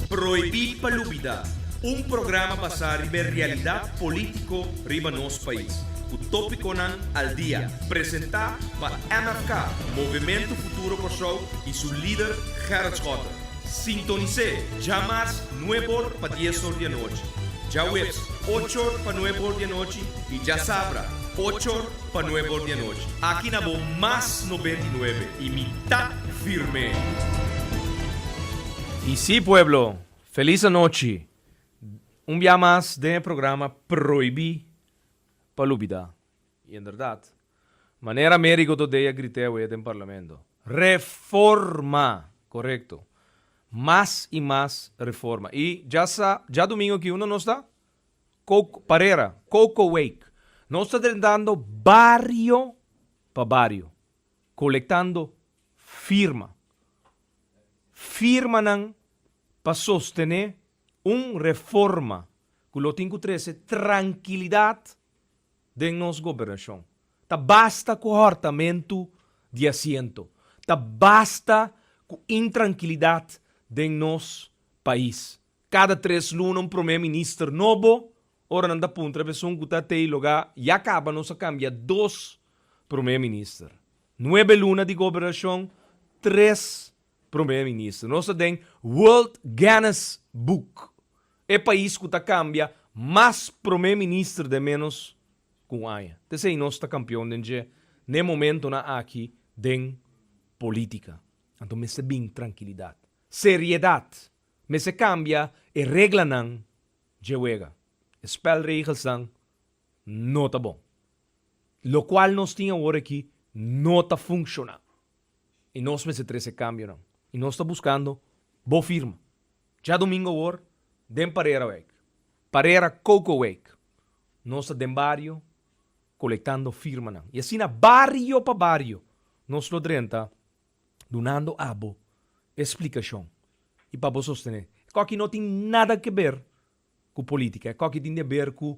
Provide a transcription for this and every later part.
Prohibí pa lubidá, un programa basá riba e realidat polítiko riba nos pais, ku tópikonan al dia, presentá pa MFK, Movementu Futuro Kòrsou, i su lider Gerrit Schotten. Sintonis'é djamars nuebe or pa dies or di anochi, djaweps ocho or pa nuebe or di anochi i djasabra ocho or Pa nuebe or di anochi. Aki na bo mas nobenta i nuebe i mi ta firme. I si pueblo, felis anochi! Un bia mas den e programa Proibi pa lubida. I en berdad, manera Amerigo Dodey a grit'e awe den Parlamento, Reforma! Korekto. Mas i mas reforma. I dja sa, djadumingo ki unda nos ta? Parera, Coco Week. Nos ta drentando bario pa bario, colectando firma. Firmanan pa sostene un reforma cu lo tin cu trece trankilidad den nos gobernacion. Ta basta cu hortamentu di asiento. Ta basta cu intrankilidad den nos pais. Kada tres luna un promé minister nobo, ora nan ta puntra esun ku ta t'ei logá ya kaba nos a kambia dos promé minister. Nuebe luna di gobernashon, tres promé minister. Nos ta den World Guinness Book, e pais ku ta kambia mas promé minister den ménos ku un aña. T esei nos ta kampion den dje n'e momentonan aki den polítika. Anto mester bin trankilidat, seriedat. Mester cambia e reglanan dje wega. E spelregelsnan no ta bon. Locual nos tin awor aki no ta funciona. Y nos mester trece cambionan. Y nos ta buscando bo firma. Djadomingo awor den Parerawijk, Parera Cocowijk, nos ta den bario colectando firmanan. Y asina bario pa bario nos lo drenta. dunando abo e splikashon i pa bo sostené. E koki no tin nada ke ber ku polítika, e koki tin di aber ku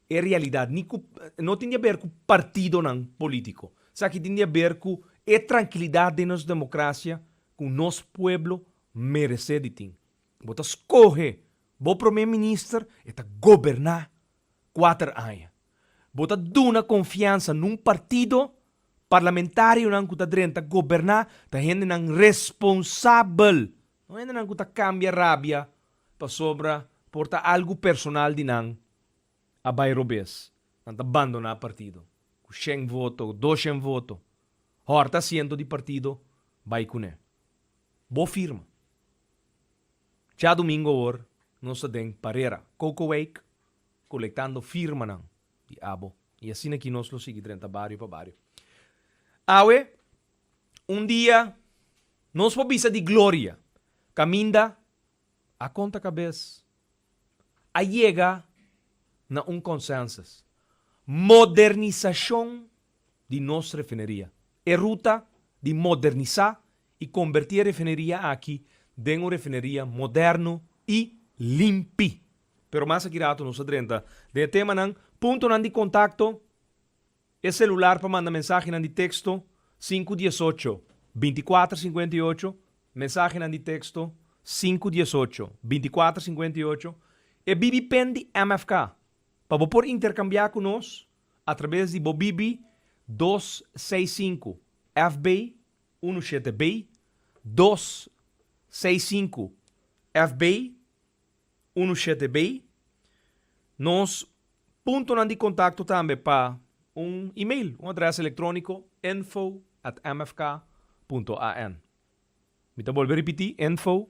e realidat, ni ku, no tin di aber ku partidonan polítiko. Esaki tin di aber ku e trankilidat den nos demokrasia ku nos pueblo meresé di tin. Bo ta skohe bo promé minister, e ta goberná kuater aña. Bo ta duna konfiansa na un partido, parlamentarionan ku ta drenta goberná ta hendenan responsabel, no hendenan ku ta kambia rabia pasobra por ta algu personal di nan a bai robes. Nan ta bandoná partido ku shen voto, ku doshen voto, hòrta asiento di partido bai kuné. Bo firma. Djadumingo awor nos ta den parera Cocoweek colectando firmanan di abo y asina aki nos lo sigui drenta bario pa bario. Awe un dia nos por bisa di gloria caminda a conta cabes a yega na un consensus, modernisacion di nos refineria, e ruta di modernisa y conberti e refineria aki den un refineria moderno y limpi. Pero mas aki rato nos ta drenta den e temanan. Puntonan di contacto, E celular pa manda mensahenan di texto, sinku dies ocho, binti kuater sinkuenta i ocho, Mensahenan di texto, sinku dies ocho, binti kuater sinkuenta i ocho, E BB-pen di MFK, pa bo por intercambia cu nos atraves di bo BB dos seis sinku, FB Unu shete bay, dos, seis sinku, F bay, unu shete bay. Nos puntonan di kontakto tambe pa un email, un adrès elektróniko, info at mfk punto an. Mi ta bolbe ripití, info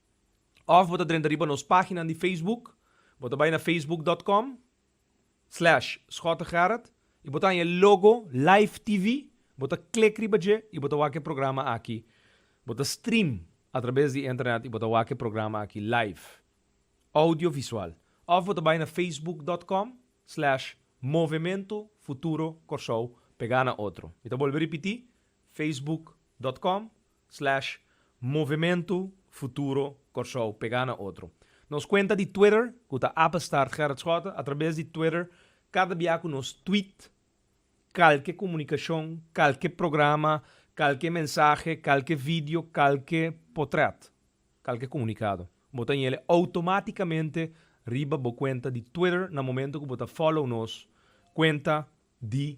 Of bo ta drenta riba nos paginan di Facebook. Bo ta bai na facebook.com, slash Schotegerrit y bo ta haña e logo Live TV, bo ta click riba dje y bo ta wak e programa aki. Bo ta stream a traves di internet y bo ta wak e programa aki live, audio visual. Of bo ta bai na facebook.com, slash Movemento Futuro Corsou, pega na otro. Mi ta bolbe ripiti, facebook.com, Slash Movimento Futuro Kòrsou pegá na otro. Nos kuenta di Twitter ku ta apenstaartgerritschoten atrabes di Twitter kada bia ku nos tweet kalke komunikashon, kalke programa, kalke mensahe, kalke video, kalke potrèt, kalke komunikado. Bo ta nyele outomátikamente riba bo kuenta di Twitter na momento ku bo ta fòlow nos kuenta di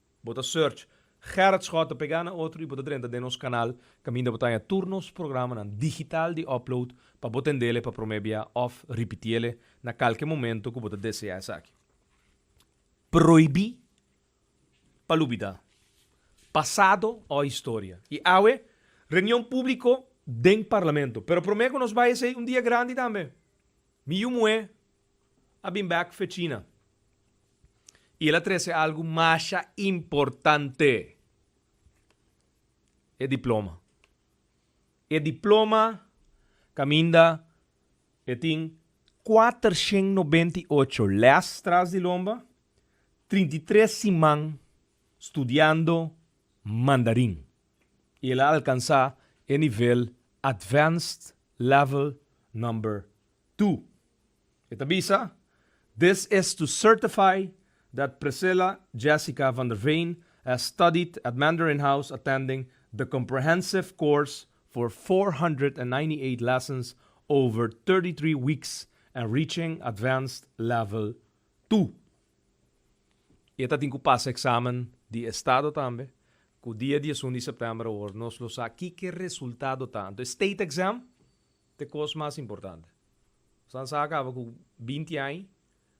Bo ta search Gerard Schot ta pega na otro y bo ta drenta den nos canal caminda bo ta haña tur nos programanan digital di upload pa bo tendele pa prome bia of ripitiele na calke momento cu bo ta desea esaki. Prohibi pa lubida, pasado o historia. Y awe, reunion publico den Parlamento. Pero prome cu nos bay esey un dia grandi tambe. Mi yu muhe. a bin bek fecina y el a trece algo masha importante, e diploma. E diploma caminda e tin cuatershent noventa y ocho les tras di lomba, trinta y tres siman studiando Mandarin y el a alcansa e nivel Advanced Level Number Tu. E ta bisa, This is to certify that Priscilla Jessica van der Veen has studied at Mandarin House attending the comprehensive course for four hundred and ninety eight lessons over thirty three weeks and reaching advanced level Tu. E ta tin ku pasa eksamen di estado tambe, ku dia dies un di sèptèmber awor nos lo sa kiko e resultado ta. Anto e state exam Te kos mas importante. Sansá a kaba ku binti ai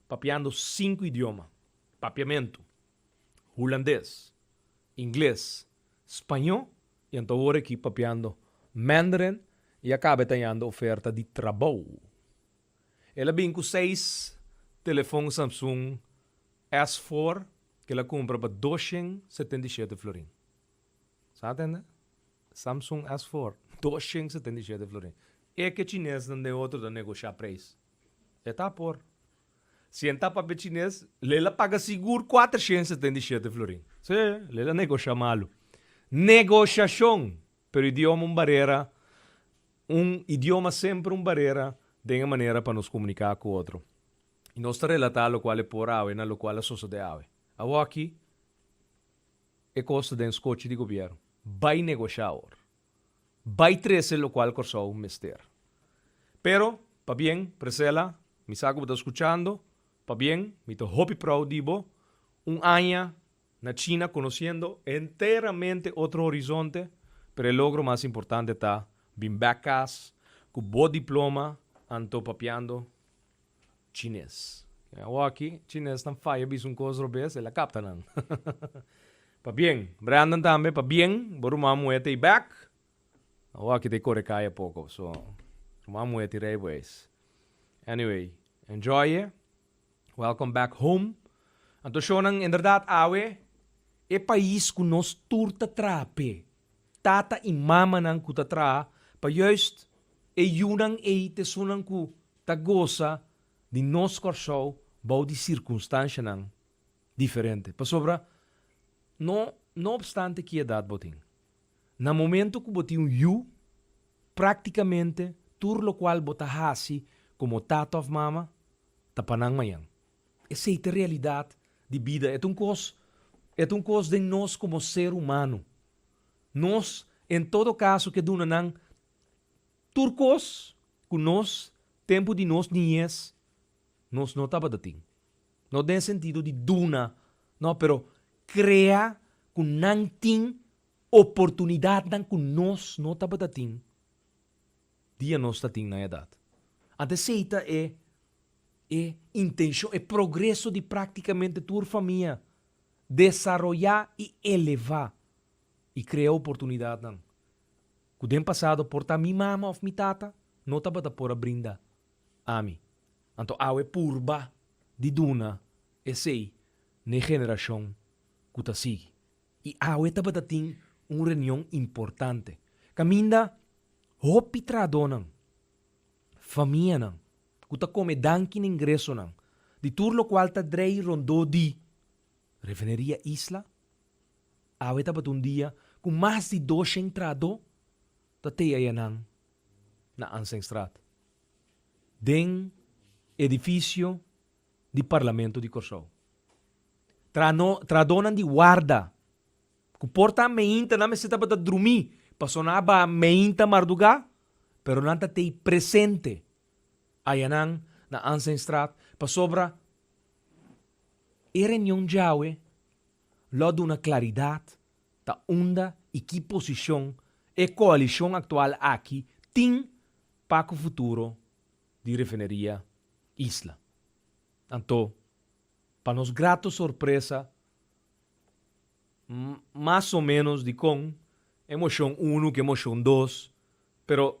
papiando sinku idioma, papiamentu, hulandes, ingles, spañó i anto awor aki papiando Mandarin i a kaba e tañando oferta di trabou. El a bin ku seis telefon Samsung S four ku el a kumpra pa dos shen setenta i shete florin. Sa tende? Samsung S for dos shen setenta i shete florin. E ke chinesnan den otro ta negoshá preis. E ta por. Si e ta papia chines, lei la paga sigur kuater shen setenta i shete florin. Sí, lei la negoshá malu. Negoshashon! Pero idioma un barera, un idioma semper un barera den e manera pa nos komuniká ku otro. I nos ta relatá lokual e por awe na lokual a sosodé awe. Awoki, E koste den skochi di gobièrn bai negoshá awor, bai trese lokual Kòrsou mester. Pero, pabien, Presela, mi sa ku bo ta skuchando, pabien, mi ta hopi prou di bo, un aña na China konosiendo enteramente otro horizonte, pero e logro mas importante ta bin bèk kas ku bo diploma anto papiando, Chines. Ken a oa aki chines nan faya bisa un cos robes el a capta nan. Pabien. Brandon tambe pabien bo ruman muhe ta e back. A oa aki ta e core caya poco so ruman muhe ti rey bo eis. Anyway enjoy e welcome back home. Anto shownan inderdat awe e pais cu nos tur ta traha pe tata y mamanan cu ta traha pa juist e yunan ey t esunnan cu ta gosa di nos Kòrsou bou di sirkunstanshanan diferente. Pasobra no no opstante ki edat bo tin, na momentu ku bo tin un yu, práktikamente tur lokual bo ta hasi komo tata òf mama ta pa nan mañan. Esei ta realidat di bida. E ta un kos, e ta un kos den nos komo ser humano. Nos en todo kaso ke duna nan. Tur kos ku nos tempu di nos niñez nos no tabata tin. No den e sentido di duna, no, pero krea ku nan tin oportunidatnan ku nos no tabata tin dia nos ta tin nan edat. Anto esei ta e e intenshon, e progreso di praktikamente tur famia, desaroyá i elevá i krea oportunidatnan Ku den pasado por ta mi mama òf mi tata no tabata por a brinda ami, anto awe purba di duna esei na e generashon ku ta sigui. I awe tabata tin un reunion importante kaminda hopi trahadónan, famianan ku ta kome danki na ingresonan di tur lokual ta drei rondó di Refineria Isla, Awe tabata un dia ku mas di dos shen trahadó ta teaya nan na Anzengstraat, den edifisio di Parlamento di Kòrsou. Trahano trahadónan di warda ku por ta meinta nan mester tabata drumí pasobra nan a bai meinta mardugá pero nan ta tei presente ayanan na Anzengstraat pasobra e reunion djawe lo duna claridad ta unda y ki posicion e coalicion actual aki tin pa cu futuro di Refineria Isla. Anto, pa nos grato sorpresa, mas o menos dicon e mocion uno cu e mocion dos, pero.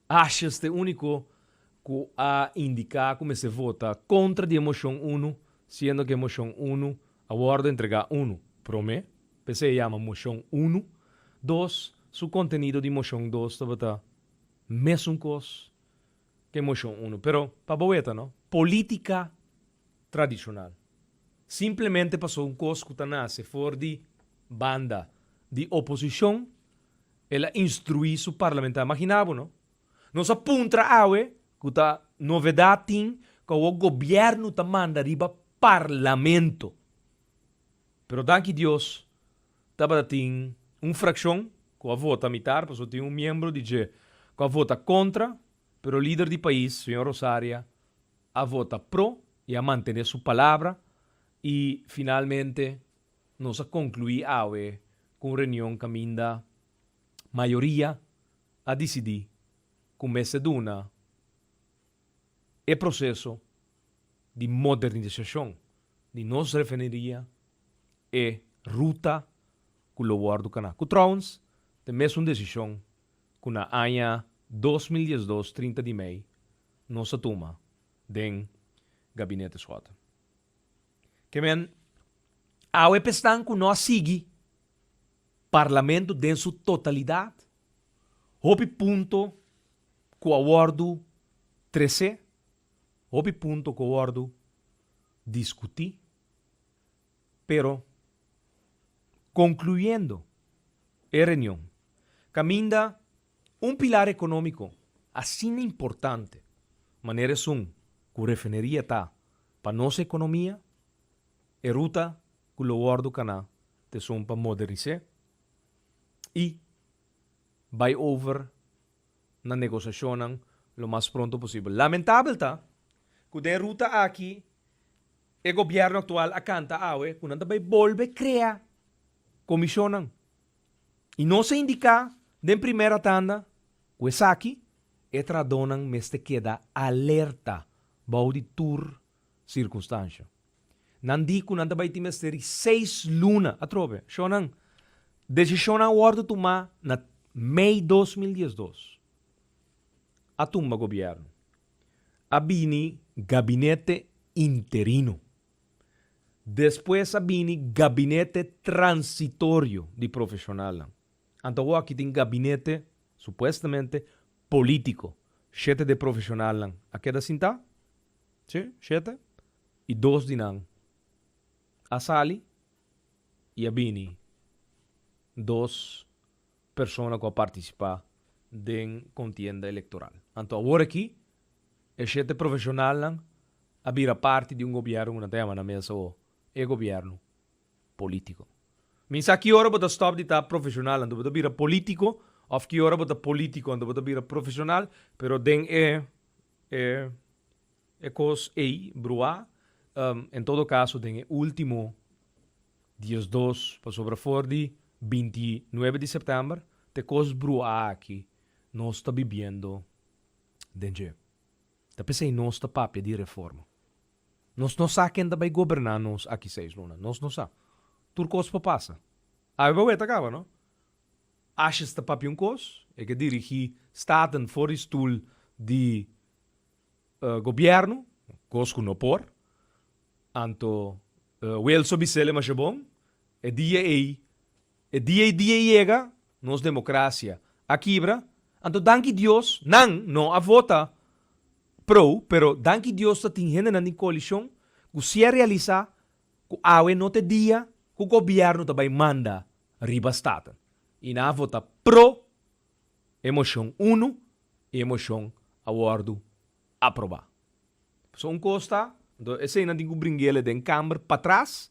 Ashes ta e úniko ku a indiká ku mester vota kontra di e moshon unu, siendo ku e moshon unu a wòrdu entregá unu, promé, p'esei a yama moshon unu, dos, su kontenido di moshon dos tabata mesun kos ku e moshon unu. Pero pa bo weta no, polítika tradishonal, simplemente pasobra un kos ku ta nase for di banda di oposishon el a instruí su parlamentario. Maginá bo no. Nos a puntra awe, ku ta novedá tin, ku awor gobièrnu ta manda riba parlamento. Pero danki Dios tabata tin un frakshon ku a vota mitar, pasobra tin un miembro di dje ku a vota kontra, pero lider di pais, señor Rosaria, a vota pro i a mantené su palabra i finalmente, Nos a conclui awe cu un reunion caminda mayoria a dicidi cu mester duna e proceso di modernisacion di nos refineria e ruta cu lo wordo cana, cu trouwens ta e mesun decision cu na aña dos mil diesdos trinta di mei nos a tuma den Gabinete Schotten. Kemen, awe pa esnan ku no a sigui Parlamento den su totalidat, hopi punto ku a wòrdu tres'é, hopi punto ku a wòrdu diskutí, pero konkluyendo e reunion kaminda. Un pilar economico asina importante manera esun cu refineria ta pa nos economia, e ruta cu lo wordo cana ta esun pa modernis'e y bay over na negociacionnan lo mas pronto posibel. Lamentabel ta cu den ruta aki e gobierno actual a canta awe cu nan ta bay bolbe crea comisionnan i nos a indiká den primera tanda ku esaki e tradonan mester keda alerta bou di tur sirkunstansha. Nan di ku nan ta bai tin mester di seis luna atrobe. Shò nan, desishonnan a wòrdu tumá na mei dos mil dies dos. A tumba gobièrnu. A bini gabinete interino. Despues a bini gabinete transitorio di profeshonalnan. Anto aki tin gabinete, supuestamente, polítiko. Shete di e profeshonalnan a keda sintá, si, shete, i dos di nan a sali i a bini dos. persona ku a partisipá den kontienda elektoral. Anto awor aki e shete profeshonalnan a bira parti di un gobièrnu ku nan ta yama nan mes awor e gobièrnu polítiko. Mi sa ki ora bo ta stòp di ta profeshonal anto bo ta bira polítiko òf ki ora bo ta polítiko anto bo ta bira profeshonal, pero den e e E kos ei bruá, en todo kaso den e último diesdos, pasobra for di binti i nuebe di sèptèmber t'e kos bruá aki nos ta bibiendo den dje. Ta p'esei nos ta papia di reforma. Nos no sa ken ta bai goberná nos aki seis luna, nos no sa. Tur kos por pasa. Awe bo weta kaba no? Ashes ta papia un kos, e ke dirigí staten for di stul di Gobierno, kos ku no por. Anto Wilson bisel e masha bon, E dia ei, e dia ei dia ei yega, nos demokrasia a kibra. Anto danki Dios, nan no a vota pro, pero danki Dios ta tin hendenan den koalishon ku si a realisá ku awe no ta e dia ku Gobierno ta bai manda riba Staten i nan a vota pro. E moshon unu i e moshon a wòrdu aprobá. Pasobra un kos ta, anto eseinan tin ku bringela den Kamber patras,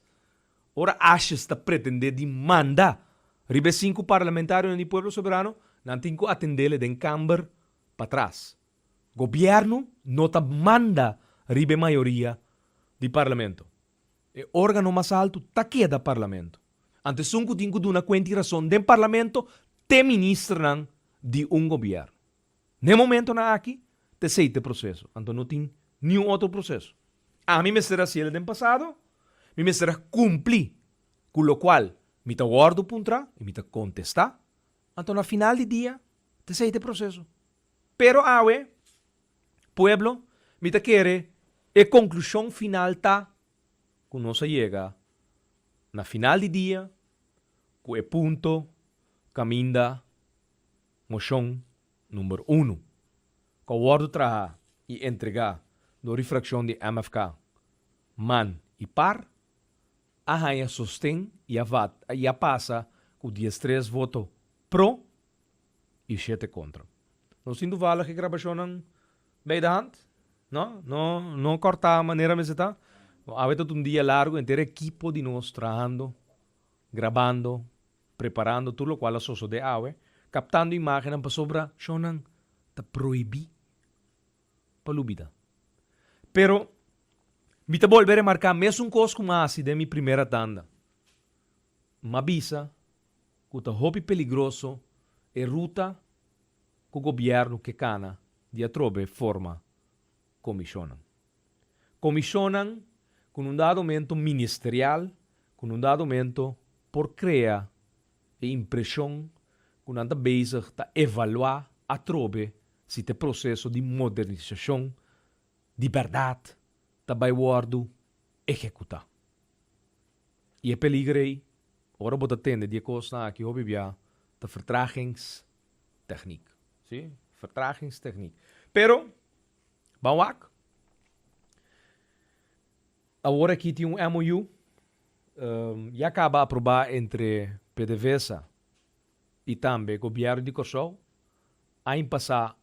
ora Ashes ta pretendé di manda riba e sinku parlamentarionan di Pueblo Soberano, nan tin ku atendela den Kamber patras. Gobièrnu no ta manda riba e mayoria di Parlamento. E organo mas alto ta keda Parlamento. Ante sun cu tin cu duna cuenta y rason den Parlamento te ministernan di un gobierno. N'e momentonan aki ta esey t'e proceso, anto no tin niun otro proceso. Ami mester a haciel den pasado, mi mester a cumpli cu locual mi ta wordo puntra y mi ta contesta, anto na final di dia ta esey t'e proceso. Pero awe. Pueblo, mi ta kere e konklushon final ta ku nos a yega na final di dia ku e punto kaminda moshon number uno ku a wòrdu traha i entregá dor di frakshon di MFK man i par a haña sosten i a pasa ku diestres voto pro i shete kontra. Nos tin tuvallig e grabashonnan bei de hand, no no no kòrtá manera mester ta. Awe ta un dia largu, henter ekipo di nos trahando, grabando, preparando tur lokual a sosodé awe, kaptando imágennan pasobra shonnan ta prohibí pa lo bida. Pero mi ta bolbe remarká mesun kos ku mi a hasi den mi primera tanda, m a bisa, ku ta hopi peligroso e ruta ku gobièrnu ke kana di atrobe forma komishonnan. Komishonnan ku nun dado momento ministerial, ku nun dado momento por krea e impreshon ku nan ta bezig ta evaluá atrobe si ta e proseso di modernisashon di bèrdat ta bai wòrdu ehekutá. I e peliger ei, ora bo ta tende di e kosnan aki hopi bia, ta vertragingstechniek. Sí, vertragingstechniek. Pero, ban wak, awor aki tin un MOU, ya kaba aprobá entre pdvsa i tambe Gobièrnu di Kòrsou, ain pasá.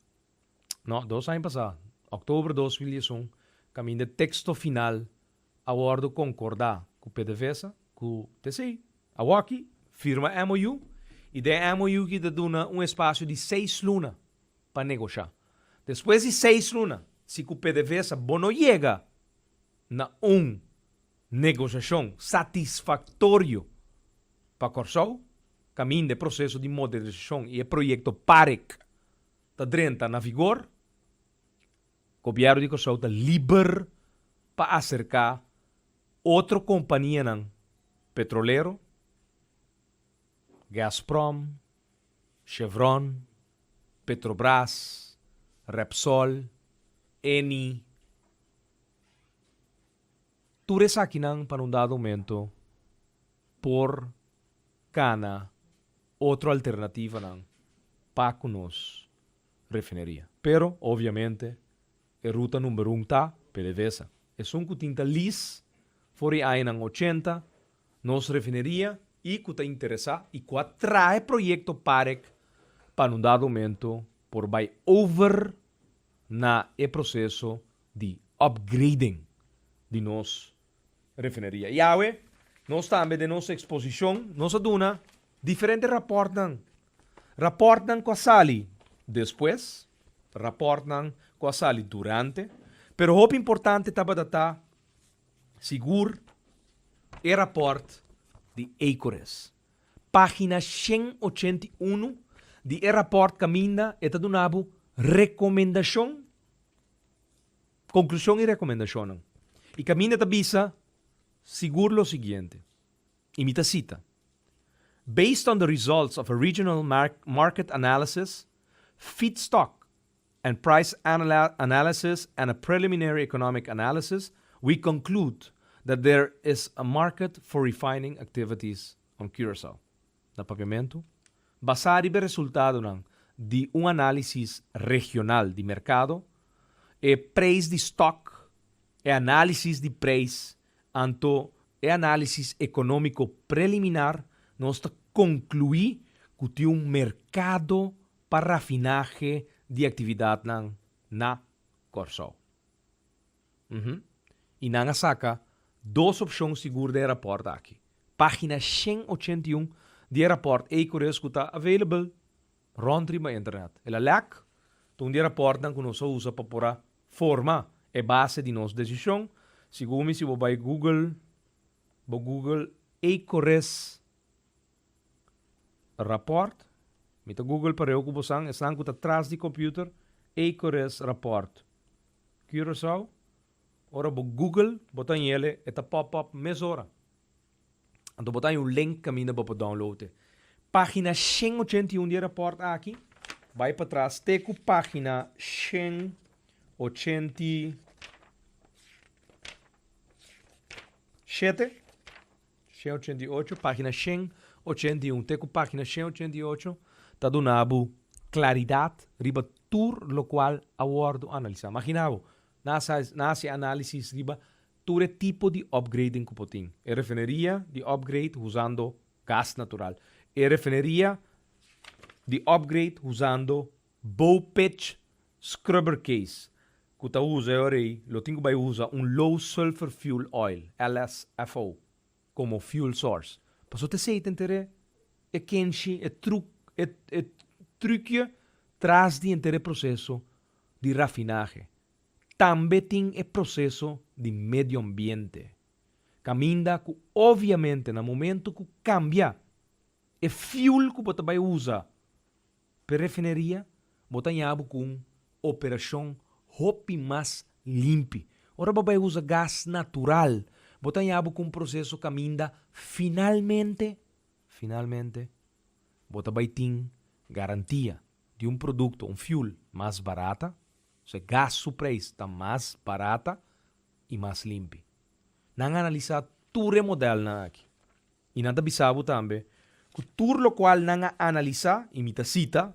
No, dos aña pasá, òktober dos mil dies un, kaminda e teksto final a wòrdu konkordá ku pdvsa, ku tc, awòkki firma MOU i den e MOU aki ta duna un espasio di seis luna pa negoshá. Despues di seis luna, si ku pdvsa bo no yega na un negoshashon satisfaktorio pa Kòrsou kaminda e proseso di modernizashon i e proyekto park, ta drenta na vigor, Gobièrnu di Kòrsou ta liber pa aserká otro kompanianan petrolero, Gazprom, Chevron, Petrobras, Repsol, Eni, Tur esakinan pan un dado momento por kana otro alternativanan pa ku nos refineria. Pero obviamente e ruta number un ta pdvsa. Esun ku tin ta lis for e añanan ochenta nos refineria i ku ta interesa i ku a trahe proyekto parek pan un dado momento por bai over na e proseso di upgrading di nos refineria. I awe nos tambe den nos exposicion nos a duna diferente raportnan, raportnan cu a sali despues, raportnan cu a sali durante, pero hopi importante tabata ta sigur e raport di Ecoris. Pagina shen ochenta i uno di e raport caminda e ta duna bo recomendacion. Konklushon i rekomendashonnan. E kaminda ta bisa sigur lo siguiente, i mi ta sita, Based on the results of a regional market analysis, feedstock and price analysis and a preliminary economic analysis, we conclude that there is a market for refining activities on Curaçao. na papiamentu, basá riba e resultadonan di un análisis regional di merkado, e preis di stòk, e análisis di preis, anto e análisis ekonómiko preliminar, nos ta konkluí ku tin un merkado pa rafinahe di aktividatnan na Kòrsou. I nan a saka dos opshon sigur den e rapòrt aki. Página shen ochenta i un di e rapòrt ei koreus ku ta available rònt riba internet. El a lèk ta un di e rapòrtnan ku nos a usa pa por a forma e base di nos desishon. Sigur mi si bo bai google, bo google ei koreus. Raport, Mi ta Google pareu ku bosan, esnan ku ta tras di computer, ei kore es raport. Curaçao, Ora bo Google, bo ta haña ele, e ta pop up mesora. Anto bo ta haña un link kaminda bo por download e. Pagina shen ochenta i un di e raport aki, bai patras te ku pagina shen ochenta i shete. Shen ochenta i ocho, página shen ochenta i un te ku página shen ochenta i ocho ta duna bo klaridat riba tur lokual a wòrdu analisá. Magina bo, nan a sa, nan a hasi análisis riba tur e tipo di opgrading ku por tin. E refineria di opgrade husando gas natural. E refineria di opgrade husando Bowpitch scrubber case cu ta usa e ora ey lo tin cu bay usa un low sulfur fuel oil, LSFO, como fuel source. Paso ta esey tin tera e kenshi, e truc, e e trucje tras di enter e proceso di rafinaje. Tambe tin e proceso di medioambiente. Caminda cu obviamente na momento cu cambia e fuel cu bo ta bay usa, P'e refineria bo ta ña bo ku un operashon hopi mas limpi. Ora bo bai usa gas natural bo ta ña bo ku un proseso kaminda finalmente finalmente bo ta bai tin garantia di un produkto, un fuel, mas barata, osea gas su preis ta mas barata i mas limpi. Nan analisá tur e modelnan aki I nan ta bisa bo tambe ku tur lokual nan a analisá, i mi ta sita,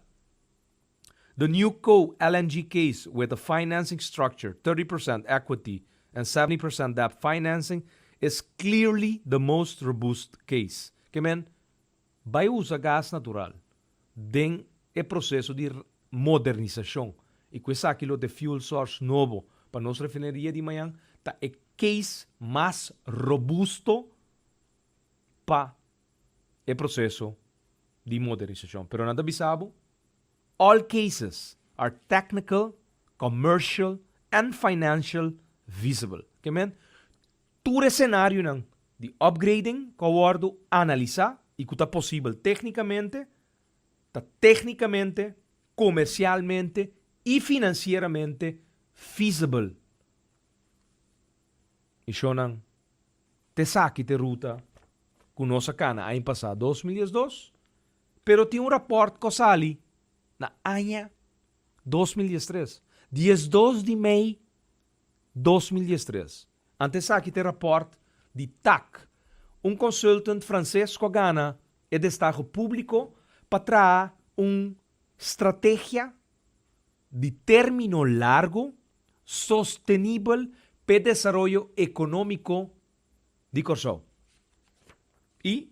The new coal LNG case with a financing structure, thirty percent equity and seventy percent debt financing, is clearly the most robust case. Ke men bai usa gas natural den e proseso di modernisashon i ku esaki lo ta e fuel source nobo pa nos refineria di mañan ta e case mas robusto pa e proseso di modernisashon. Pero nan ta bisa bo, all cases are technical, commercial and financial visible. Ke men? Tur e senarionan di upgrading ku a wòrdu analisá i ku ta posibel téknikamente, ta téknikamente, komersialmente i finansieramente visible. Misionnan. T'esaki t'e ruta cu nos a cana aña pasa, dos mil diesdos, pero tin un rapport cu a sali na aña dos mil diestres, diesdos di mei dos mil diestres. Ante esaki t'e rapport di tac, un consultant Frances cu a gana e destaho publico pa traha un strategia di término largo sostenibel p'e desaroyo ekonómiko di Kòrsou. I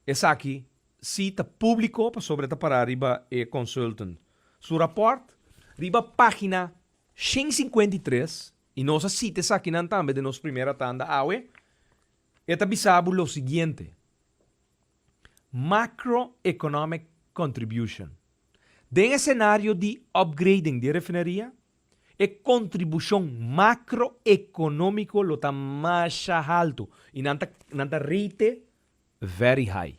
esaki sí ta públiko pasobra e ta pará riba e consultant su rapòrt riba página shen sinkuenta i tres, i nos a sita esakinan tambe den nos primera tanda awe, e ta bisa bo lo siguiente. macroeconomic contribution. Den e senario di upgrading di e refineria, e contribucion macroeconomico lo ta masha haltu y nan ta nan ta rate very high.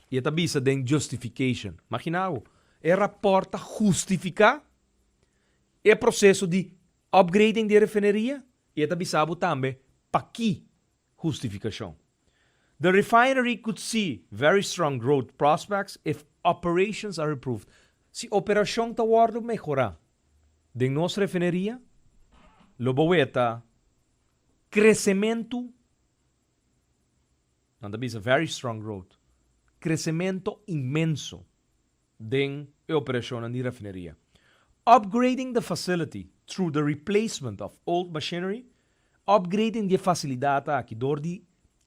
Y e ta bisa den justification. Magina awo, e rapport ta justifica e proceso di upgrading di e refineria y e ta bisa bo tambe paki justificacion. The refinery could see very strong growth prospects if operations are improved, si operashon ta wòrdu mehorá den nos refineria, lo bo weta kresementu, nan ta bisa very strong growth, kresementu inmenso. den e operashonnan di rafineria. Upgrading the facility through the replacement of old machinery, Upgrading di e fasilidat aki dor di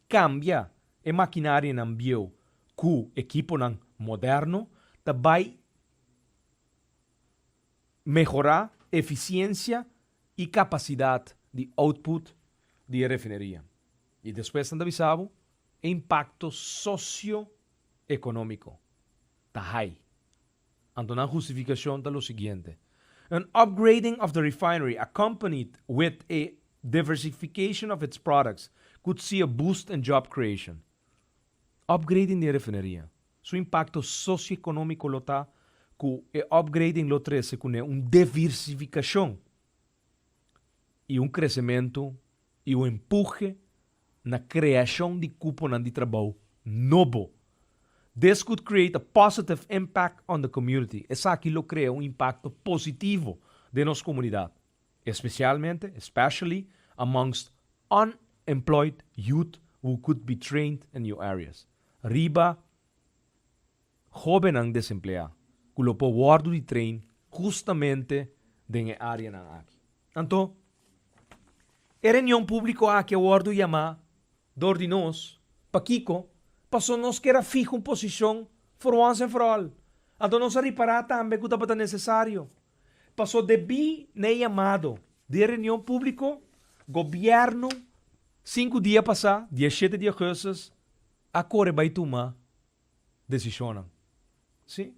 kambia e makinarianan bieu ku ekiponan moderno ta bai mehorá efisiensia i kapasidat di output di e rafineria. I despues nan ta bisa bo e impakto sosio. economico ta high. Anto nan justificacion ta lo siguiente, An upgrading of the refinery accompanied with a diversification of its products could see a boost in job creation. Upgrading di e refineria, su impacto socioeconomico lo ta cu e upgrading lo trece cune un diversificacion. i un kresementu i un empuje na kreashon di kuponan di trabou nobo. This could create a positive impact on the community, esaki lo krea un impakto positivo den nos komunidat, espesialmente, especially, amongst unemployed youth who could be trained in new areas, riba. hóbennan desempleá ku lo por wòrdu di train hustamente den e áreanan aki. Anto, e reunion públiko aki a wòrdu yamá dor di nos. Pakiko? Paso nos kier a fiha un posishon for wans en for al. Anto nos a ripará tambe ku tabata nesesario. Paso debí na e yamado di e reunion públiko gobièrnu sinku dia pasá, diashete di augustus, a kore bai tuma decisionnan. Sí,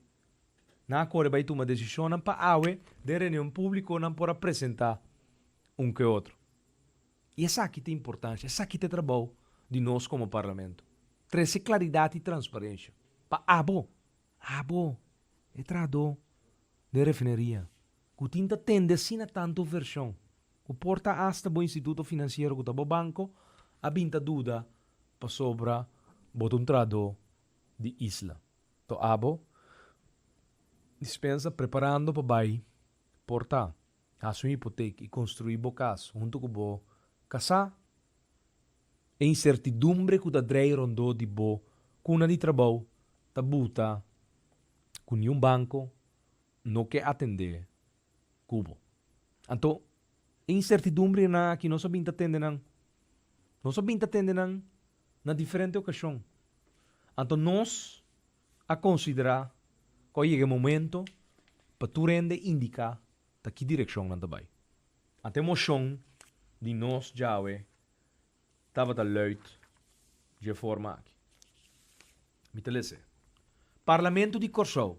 nan a core bay tuma decisionnan pa awe den reunion publico nan por a presenta un cu e otro. Y esaki ta importancia, esaki ta trabao di nos como Parlamento, trece claridad y transparencia pa abo, abo e trahado den refineria. Ku tin ta tende asina tantu vershon, ku por ta asta bo instituto finansiero ku ta bo banko a bin ta duda pasobra bo ta un trahadó di isla. To abo dispensa preparando pa bai por ta hasi un hipotek i konstruí bo kas huntu ku bo kasá. E insertidumbre ku ta drei rondó di bo kuna di trabou ta buta ku niun banko no ke atendé ku bo. Anto, e insertidumbrinan aki nos a bin ta tende nan? Nos a bin ta tende nan na diferente okashon. Anto nos a konsiderá ku a yega e momento pa tur hende indiká ta ki direkshon nan ta bai. Ante moshon di nos djawe tabata luid dje forma aki. Mi ta lese. Parlamento di Kòrsou,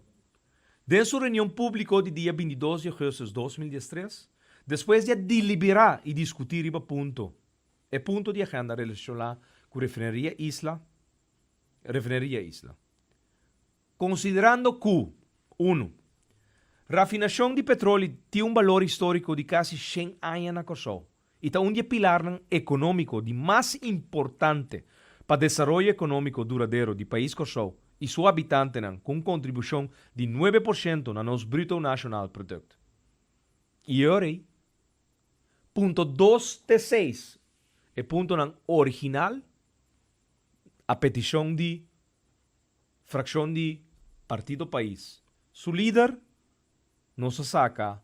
den su reunion públiko di dia bintidos di augustus dos mil dies tres, despues di a diliberá i diskutí riba punto, e punto di agenda relashoná ku Refineria Isla, Refineria Isla. Konsiderando ku, unu. Rafinashon di petroli tin un balor históriko di kasi shen aña na Kòrsou. i ta un di e pilarnan ekonómiko di mas importante pa desaroyo ekonómiko duradero di pais Kòrsou i su habitantenan ku un kontribushon di nuebe por shento na nos Bruto Nashonal Produkt. I e ora ei. Punto dos te seis, e puntonan original a petishon di frakshon di Partido Pais, su lider, nos a saca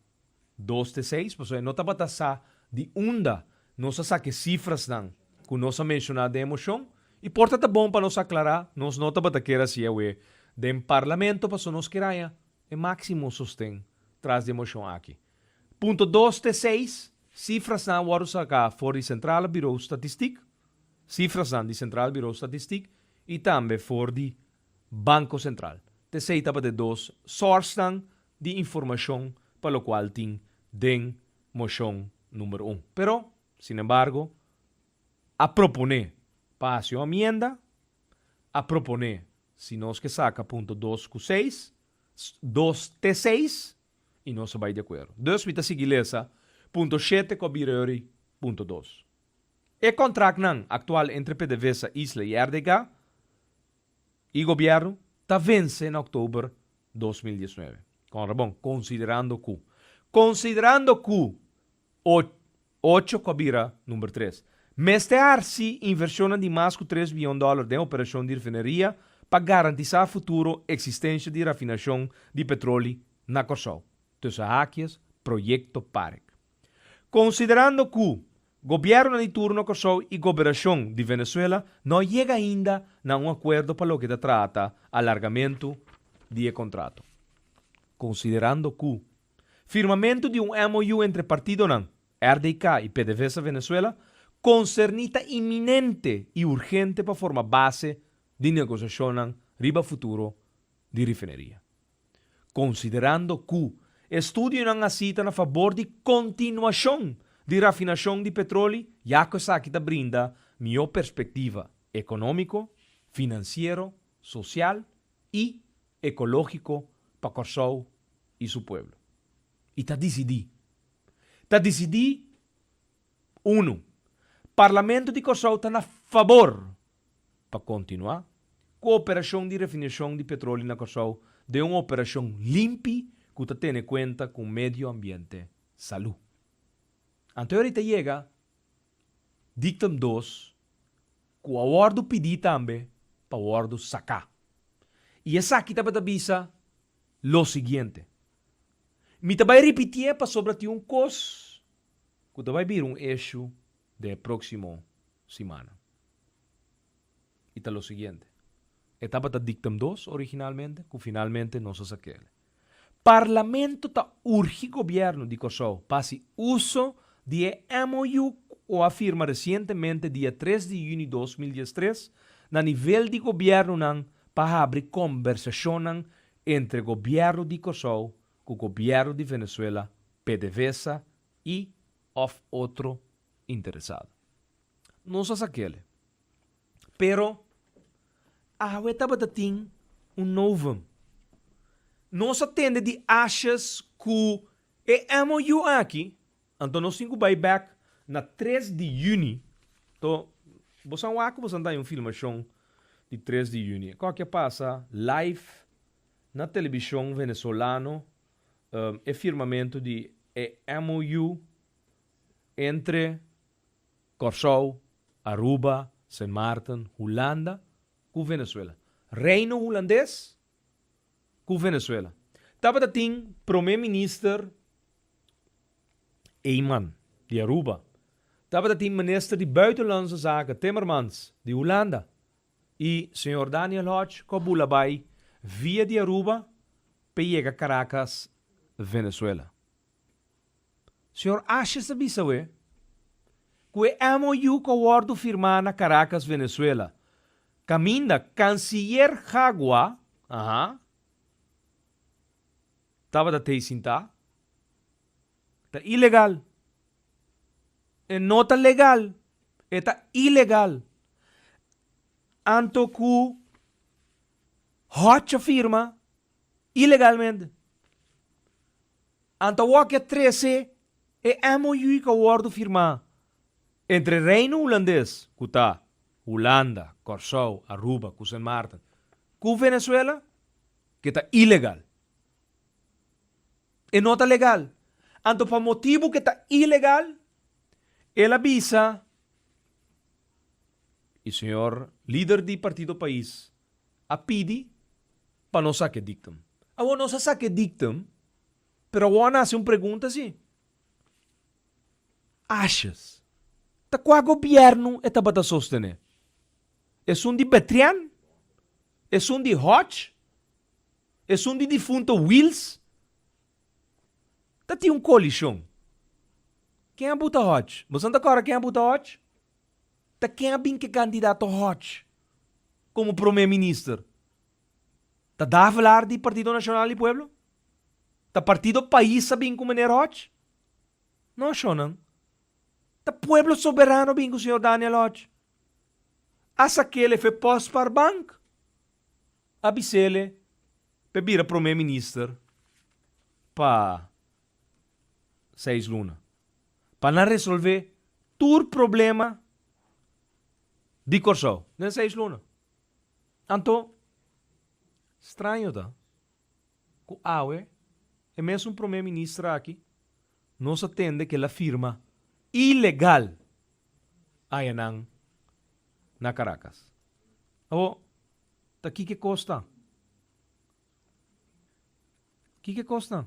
dos te seis, pasobra e no tabata sa di unda nos a saca e cifrasnan cu nos a menciona den e mocion y por ta ta bon pa nos aclara, nos no tabata kier haci awe den Parlamento pasobra nos kier haña e maximo sosten tras di e mocion aki. Punto dos te seis, cifrasnan a wordo saca for di Centrale Bureau Statistiek, cifrasnan di Centrale Bureau Statistiek, y tambe for di Banco Central. T'esey tabata e dos sourcenan di informacion pa locual tin den mocion number un. Pero, sin embargo, a propone pa haci un amienda, a propone si nos ke saca punto dos cu seis, dos te seis, y nos a bay de acuerdo. Dus mi ta sigui lesa punto shete cu a bira yo'i punto dos. E contractnan actual entre PDVSA Isla y RDK y Gobierno ta vence na October dos mil diesnuebe. Con rabon, considerando cu. Considerando cu o ocho cu a bira number tres. Mester harci inversionnan di mas cu tres billon dollar den operacion di refineria pa garantisa futuro existencia di rafinacion di petroli na Corsou, tussen hakies, Proyecto Park. Konsiderando ku Gobiernonan di turno Kòrsou i Goberashon di Venezuela no a yega ainda na un akuerdo pa loke ta trata alargamentu di e kontrato. Konsiderando ku firmamentu di un MOU entre partidonan RDK i PDVSA Venezuela konserní ta iminente i urgente pa forma base di negosiashonnan riba futuro di rifineria, konsiderando ku e studionan hasi ta na fabor di kontinuashon di rafinashon di petroli ya ku esaki ta brinda mihó perspektiva ekonómiko, finansiero, sosial i ekológiko pa Kòrsou i su pueblo. I ta disidí. Ta disidí, Unu, Parlamento di Kòrsou ta na fabor Pa kontinuá ku operashon di refinashon di petroli na Kòrsou den un operashon limpi ku ta tene kuenta ku medio ambiente, salú. Anto yora i ta yega diktum dos ku a wòrdu pidí tambe pa wòrdu saká. I esaki tabata bisa lo siguiente, Mi ta bai ripitié pasobra tin un kos ku ta bai bira un eshu de próksimo simana i ta lo siguiente, e tabata dictum dos originalmente ku finalmente nos a sa kele. Parlamento ta urgi Gobièrnu di Kòrsou pa hasi uso di e MOU ku a firma resientemente dia tres di yuni dos mil dies tres na nivel di Gobièrnunan pa habri kombersashonnan entre Gobièrnu di Kòrsou ku Gobièrnu di Venezuela, pdvsa i òf otro interesado. Nos a sa kele. Pero awe tabata tin un novum. Nos a tende di ashas ku e MOU aki, anto nos tin ku bai bèk na tres di yüni. Tò, bo sa wak ku bo sa nta yon filmashon di tres di yüni. E kòke a pasa live na telebishon venezolano e firmamento di e MOU entre Kòrsou, Aruba, Sint Maarten, Hulanda ku Venezuela. Reino Hulandes ku Venezuela tabata tin promé minister Eijman di Aruba, tabata tin minister di Buitenlandse Zaken Timmermans di Hulanda, I señor Daniel Hodge cu a bula bay via di Aruba p'e yega Caracas, Venezuela. Señor Ashes a bisa awe cu e MOU cu a wordo firma na Caracas, Venezuela, caminda canciller Jagua, aha, tabata t'ey sinta. ta ilegal. E no ta legal, e ta ilegal. Anto ku Hotch a firma ilegalmente. Anto wak e trese e MOU ku a wòrdu firmá entre Reino Hulandes, ku ta Hulanda, Kòrsou, Aruba ku Sint Maarten, ku Venezuela, ke ta ilegal. e no ta legal, anto pa motibu ke ta ilegal, el a bisa, i señor lider di Partido Pais a pidi pa no sake diktum. Awor nos a sake diktum, pero awor a nase un pregunta si, ashas ta kua gobièrnu e tabata sostené? Esun di Betrian? Esun di Hodge? Esun di difunto Wils ta tin un kolishon. Ken a buta Hodge? Boso no ta kòrda ken a buta Hodge? Ta ken a bin ke kandidato Hodge komo promé minister? Ta Davelaar di Partido Nacional di Pueblo? Ta Partido Pais a bin ku meneer Hodge? No ashonan. Ta Pueblo Soberano a bin ku señor Daniel Hodge. Asa kele fe pòs par bank? A bisele p'e bira promé minister pa seis luna, pa nan resolvé tur problema di Kòrsou den seis luna. Anto, straño ta ku awe e mesun promé minister aki nos a tende ku el a firma ilegal añanan na Karakas. Awo, ta kike kos ta? Kike kos ta?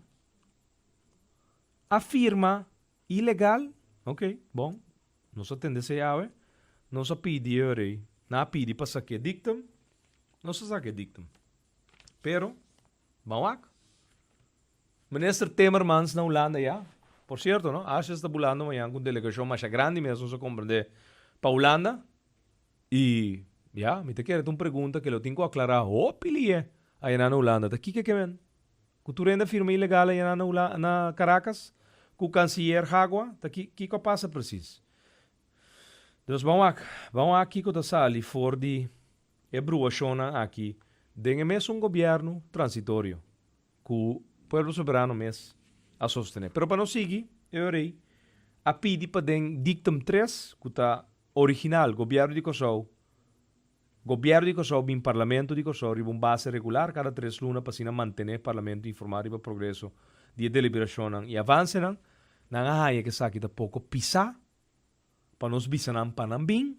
A firma ilegal? Ok, bon. Nos a tende esei awe. Nos a pidi e orei. Nan a pidi pa saki e dictum. Nos a saki e dictum. Pero, ban wak. Minister Timmermans na Hulanda ya. Por cierto, no, Asjes ta bulando mañan cu un delegacion masha grandi mes nos a comprende pa Hulanda. I ya, mi ta kere ta un pregunta ke lo tin ku aklará hopi liye ayana na Hulanda ta kiko ke men ku tur hende a firma ilegal ayana na Hula na Karakas ku kansiyer hagua ta ki kiko a pasa presis. Entonces ban wak ban wak kiko ta sali for di e bruhashonnan aki den e mesun gobièrnu transitorio ku pueblo soberano mes a sostené. Pero pa no sigui e orei a pidi paden dictum tres ku ta Original, Gobierno di Kòrsou Gobierno di Kòrsou bin Parlamento di Kòrsou riba un base regular kada tres luna pa asina mantené Parlamento informá riba progreso di e deliberashonnan i avansenan. Nan a haña ku esaki ta poko pisá pa nos bisa nan pa nan bin